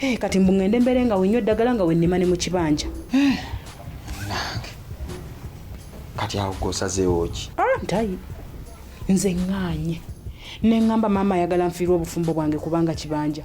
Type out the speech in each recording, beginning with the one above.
Eh, kati mbu ngende mbeere nga wenywa eddagala nga wennima ne mu kibanja eh, nange kati awo gosazeewo ki ah, ntayi nze ŋŋaanye ne ŋŋamba maama ayagala nfiirwa obufumbo bwange kubanga kibanja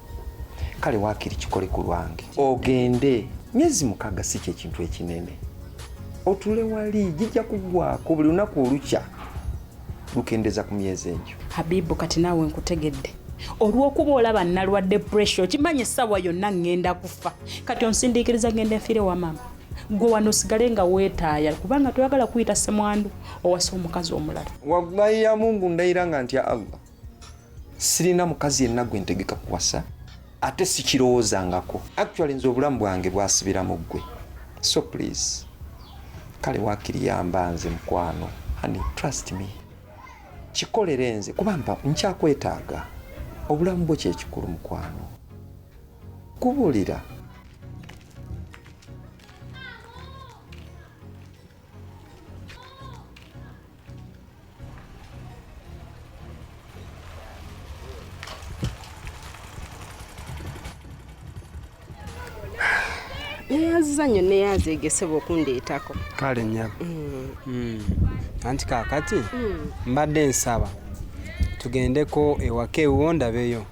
kale wakiri kikole ku lwange ogende myezi mukaaga si kyekintu ekinene otule wali gijja kugwako buli lunaku olukya lukendeza ku myezi egyo habibu kati naawe nkutegedde olwokuba olaba nalwadde pressure okimanyi essaawa yonna ŋŋenda kufa kati onsindiikiriza ŋŋenda enfiire wa maama gwe wano osigale nga weetaaya kubanga toyagala kuyita semwandu owasa omukazi omulala wallahi ya mungu ndayira nga ntya allah sirina mukazi yenna gwe ntegeka kuwasa ate sikirowoozangako actually nze obulamu bwange bwasibira mu ggwe so please kale wakiri yamba nze mukwano ani trust me kikolere nze kuba mpa nkyakwetaaga obulamu bwo kyekikulu mukwano kubulira neyazza nyo neyaza egesebwa okundeetako kale nyabo mm. mm. anti kakati mm. mbadde nsaba tugendeko ewaka ewuwo ndabeyo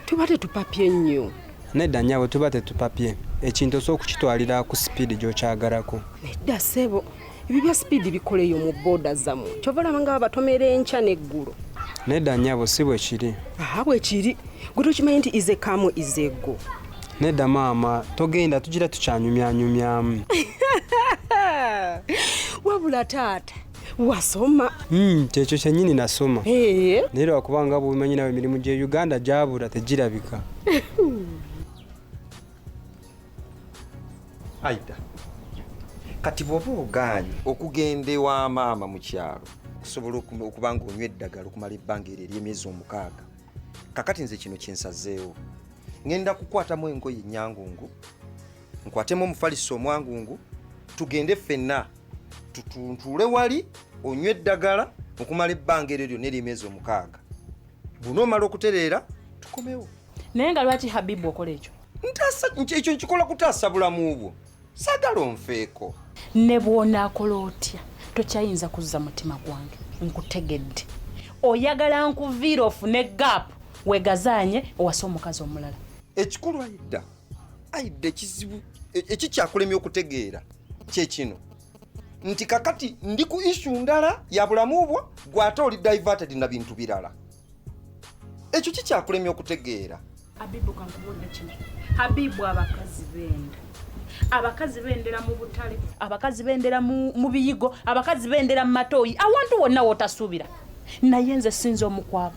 tuba tetupapye nnyo nedda nyabo tuba tetupapye ekintu osobola okukitwalira ku sipiidi gyokyagalako nedda sebo ebyo bya sipiidi bikoleyo mu booda zamu kyova olaba nga babatomera enkya n'eggulo nedda nyabo si bwe kiri aha bwe kiri gwe tokimanyi nti ize kamu izego nedda maama togenda tugira tukyanyumyanyumyamu wabula taata wasoma hmm, kyekyo kyenyini nasoma naye lwakuba nga bwobimanyi nawe emirimu gye uganda gyabula tegirabika aida kati bwoba ogaanyi okugenda ewa maama mu kyalo okusobola okuba nga onywa eddagala okumala ebbanga eryo ery'emyezi omukaaga kakati nze kino kyensazeewo ŋenda kukwatamu engoye enyangungu nkwatemu omufaliso omwangungu tugende ffenna tutuntuule wali onywa eddagala okumala ebbanga eryo lyonna ery'emyezi omukaaga bunoomala okutereera tukomewo naye nga lwaki habibu okola ekyo ntaasa ekyo nkikola kutaasa bulamu bwo sagala onfeeko ne bwonaakola otya tokyayinza kuzza mutima gwange nkutegedde oyagala nkuviira ofune gaapu wegazaanye owase omukazi omulala ekikulu ayidda ayidda ekizibu e, ekikyakulemya okutegeera kyekino nti kakati ndi ku ishu ndala ya bulamu bwo gwate oli diverted na bintu birala ekyo kikyakulemya okutegeera abibu kankubulira kino habibu abakazi benda abakazi bendera mu butale abakazi bendera mu biyigo abakazi bendera mu matooyi awantu wonna wotasuubira naye nze sinza omukwabo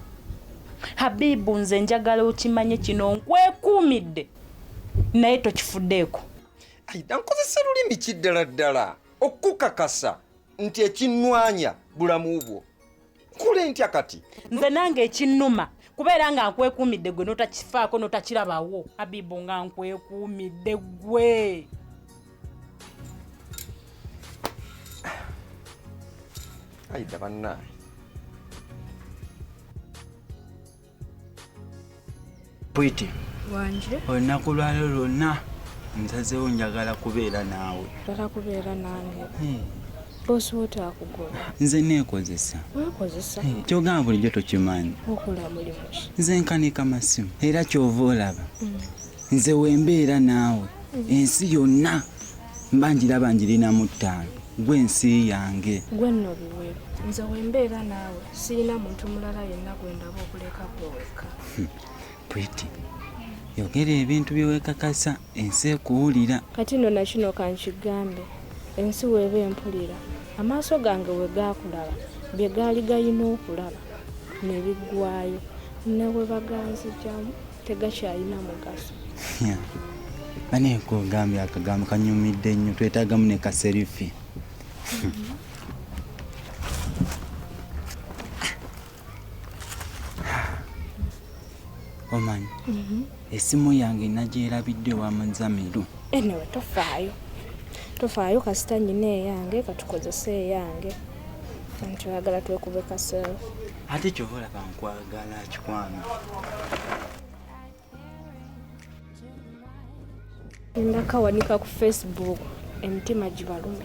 habibu nze njagala okimanye kino nkwekuumidde naye tokifuddeeko ayida nkozesa lulimi kiddala ddala okukakasa nti ekinwanya bulamu bwo nkole ntya kati nze nange ekinnuma kubeera nga nkwekuumidde gwe notakifaako notakirabawo abibu nga nkwekuumidde gwe ayidda bannaye pwiti wanje olunaku lwalo lwonna nsazewo njagala kubeera naawe njagala kubeera nange hmm. bosi wo takugoba nze neekozesa weekozesa hmm. kyogamba bulijjo tokimanyi okola mulimu ki nze nkanika masimu era kyova olaba hmm. nze wembeera naawe ensi yonna mba njiraba njirina mu ttaano gwe ensi yange gwe nno biweeru nze wembeera naawe sirina muntu mulala yenna gwe ndaba okuleka kweweka hmm. pretty yogera ebintu byewekakasa ensi ekuwulira kati no nakino kankigambe ensi weeba empulira amaaso gange we gaakulaba bye gaali galina okulaba ne biggwayo ne we baganzijamu tegakyalina mugaso bane kugambye akagambo kanyumidde nnyo twetagamu ne kaserifi omanyi mhm. esimu yange nagyerabidde wa muzamiru enewe eh, tofaayo tofaayo kasita nyina eyange katukozese eyange nti oyagala twekube kaserifi ate kyova olaba nkwagala kikwano ndakawanika ku facebook emitima gibalume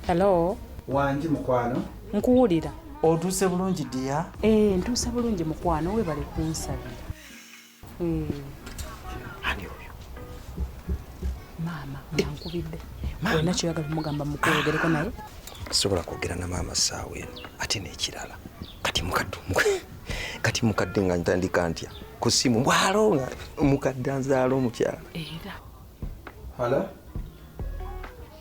hello wangi mukwano nkuwulira otuuse bulungi dia ee eh, ntuuse bulungi mukwano webale kunsabira ani oyo maama yankubidde olina kyoyagala omugamba mukwogereko naye sobola kwogera na maama saawa eno ate nekirala kati mukadde kati mukadde nga ntandika ntya ku simu bwalo nga mukadde anzaala omukyala era hala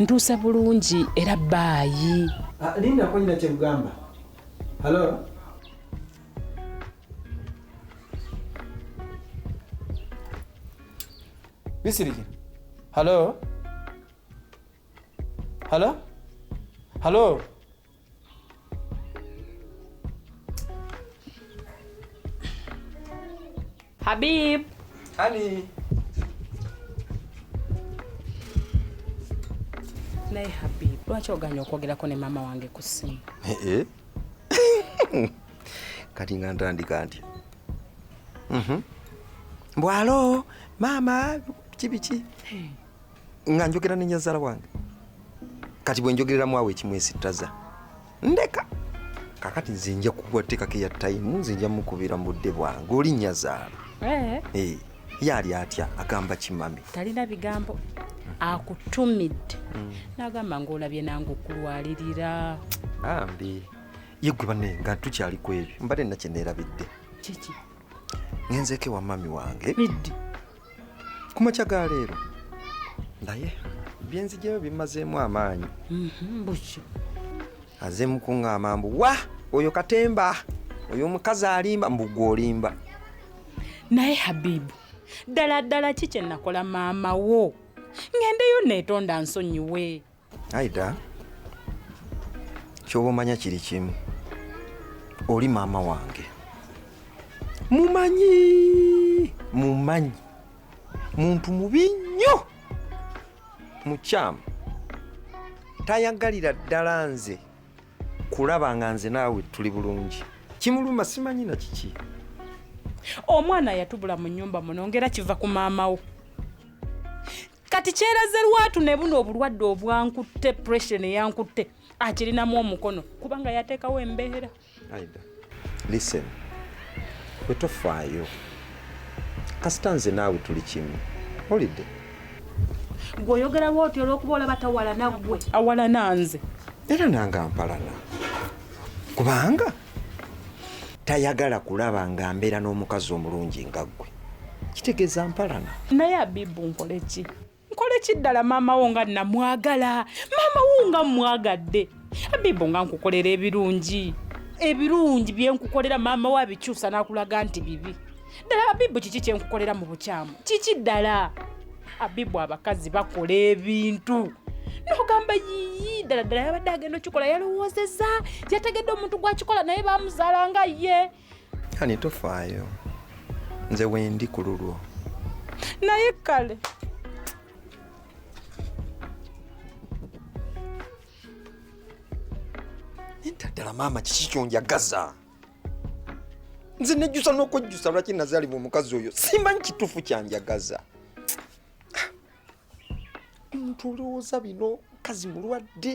ntuuse bulungi era baayi ah, linda konyina kyekugamba halo bisirikira halo halo halo Habib. Honey. Naye Habib, lwaki oganye okwogerako ne maama wange ku ssimu? Eh, eh. Kati nga ntandika ntya? Mhm. Mbwalo, maama, biki biki? nga njogera ne nyazaala wange kati bwe njogereramu awo ekimwesittaza ndeka kakati nze nja kukuwa tteekako eya tayimu nze nja mukubira mu budde bwange oli nyazaala eh. eh, ye ali atya agamba kimami talina bigambo akutumidde mm. nagamba ngaolabye nange okulwalirira ambi ye gwe bane nga tukyali ku ebyo mbadde nakyeneerabidde kiki ngenzeeko ewa mami wange biddi kumakya ga leero naye byenzijayo bimazeemu amaanyi mhm, buki aze mukuŋŋaama mbu wa oyo katemba oyo omukazi alimba mbu gwe olimba naye habibu ddala ddala ki kye nakola maama wo ng'endeyo neetonda nsonyiwe Aida, kyoba omanya kiri kimu, oli maama wange mumanyi mumanyi muntu mubi nnyo mukyamu tayagalira ddala nze kulaba nga nze naawe tuli bulungi kimuluma simanyi na kiki omwana yatubula mu nyumba muno ngera kiva ku maama wo kati kyeraze lwatu ne buno obulwadde obwankutte pressure ne yankutte akirinamu omukono kubanga yateekawo embeera aida listen bwe tofaayo kasita nze naawe tuli kimu olidde gwe oyogera lwoti olwokuba olaba tawalana gwe awalana nze era nange ampalana kubanga tayagala kulaba nga mbeera n'omukazi omulungi nga ggwe kitegeeza mpalana naye abibu nkole ki nkole ki ddala maama wo nga namwagala maama wo nga mmwagadde abibu nga nkukolera ebirungi ebirungi bye nkukolera maama wo abikyusa n'akulaga nti bibi ddala ababibu kiki kyenkukolera mu bukyamu kiki ddala abibu abakazi bakola ebintu nogamba yiyi ddala ddala yabadde agenda okikola yalowoozeza yategedde omuntu gwakikola naye bamuzaala nga ye ani tofaayo nze wendi ku lulwo naye kale ddala maama kiki kyonjagaza nze nejjusa n'okwejjusa lwaki nazaalibwa omukazi oyo simbanyi kituufu kyanjagaza omuntu olowooza bino mukazi mulwadde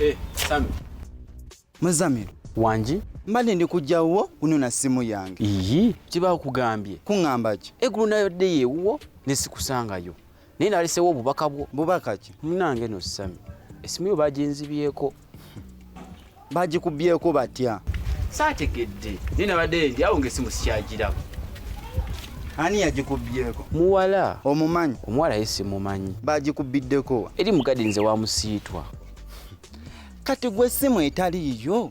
Eh, Sami. Muzamiru. Wangi. Mbadde ndi kujja wuwo kunona simu yange. Iyi. Kiba kugambye. Kungamba ki? Egulu nayo dde yewuwo ne sikusangayo. naye nalesewo obubaka bwo bubaka ki munange no sami esimu yo baginzibyeko bagikubyeko batya saategedde naye nabadde ndi awo ngaesimu sikyagiraba ani yagikubyeko muwala omumanyi omuwala ye simumanyi bagikubbiddeko eri mugadinze wamusiitwa kati gwe esimu etaliiyo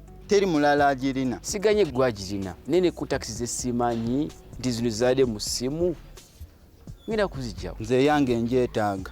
teri mulala agirina siganye gwe agirina naye ne contacts ze simanyi nti zino zizadde mu ssimu ngenda kuzijjawo nze eyange njeetaaga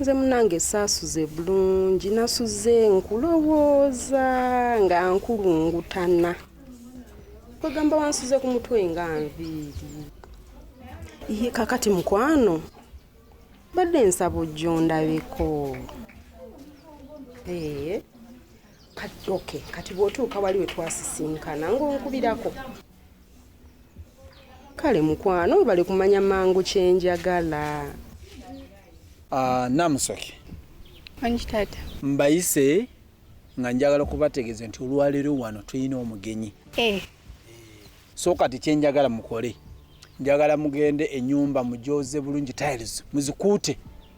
nze munange saasuze bulungi nasuze nkulowooza nga nkulungutana kwegamba wansuze ku mutwe nga nviiri iye kakati mukwano badde nsaba ojja ondabeko ee ok kati bw'otuuka wali we twasisinkana ng'onkubirako kale mukwano webale kumanya mangu kyenjagala ah, namusoke onyitata mbayise nga njagala okubategeeza nti olwaleero wano tulina omugenyi eh. so kati kyenjagala mukole njagala mugende enyumba mujoze bulungi tiles muzikuute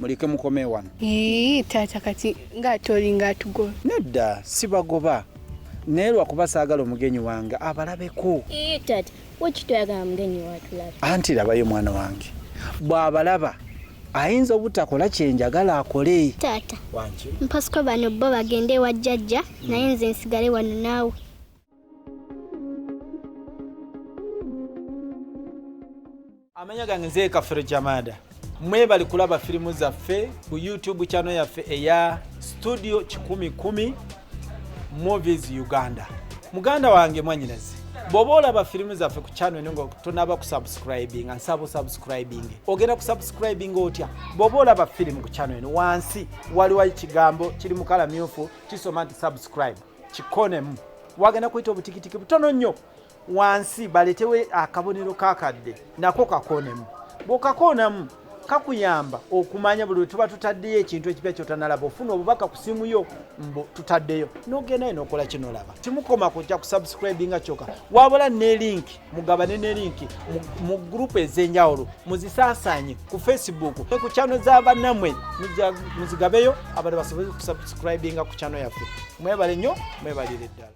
muleke mukome wano Ii, taata kati ng'ate olinga atugoba nedda sibagoba naye lwakuba saagala omugenyi wange abalabeko Ii, taata wekiti oyagala mugenyi watulabe anti labayo mwana wange bw'abalaba ayinza obutakola kye njagala akole taata wangi mpasiko bano bo bagende ewa jjajja naye nze nsigale wano naawe amanya gange nze kafere jamada mwebali kulaba firimu zaffe ku youtube channel yaffe eya studio kikumi kumi movies uganda muganda wange mwanyinazi bwoba olaba firimu zaffe ku channel eno nga tonaba kusubscribinga nsaba osubscribing ogenda kusubscribing otya bwoba olaba firimu ku channel eno wansi waliwo ekigambo kiri mukala myufu kisoma nti subscribe kikonemu wagenda kuyita obutikitiki butono nnyo wansi baletewe akabonero kakadde nako kakonemu bwokakonamu kakuyamba okumanya buli wetuba tutaddeyo ekintu ekipya kyotanalaba ofuna obubaka ku simu yo mbu tutaddeyo nogendayo nokola kinolaba kimukoma kujja kusubscribinga kyoka wabula ne linki mugabane ne linki mu gurupu ez'enjawulo muzisaasaanye ku facebook ne ku kyano za bannamwe muzigabeyo abantu basobole okusabusikribinga ku kyano yaffe mwebale nnyo mwebalire ddala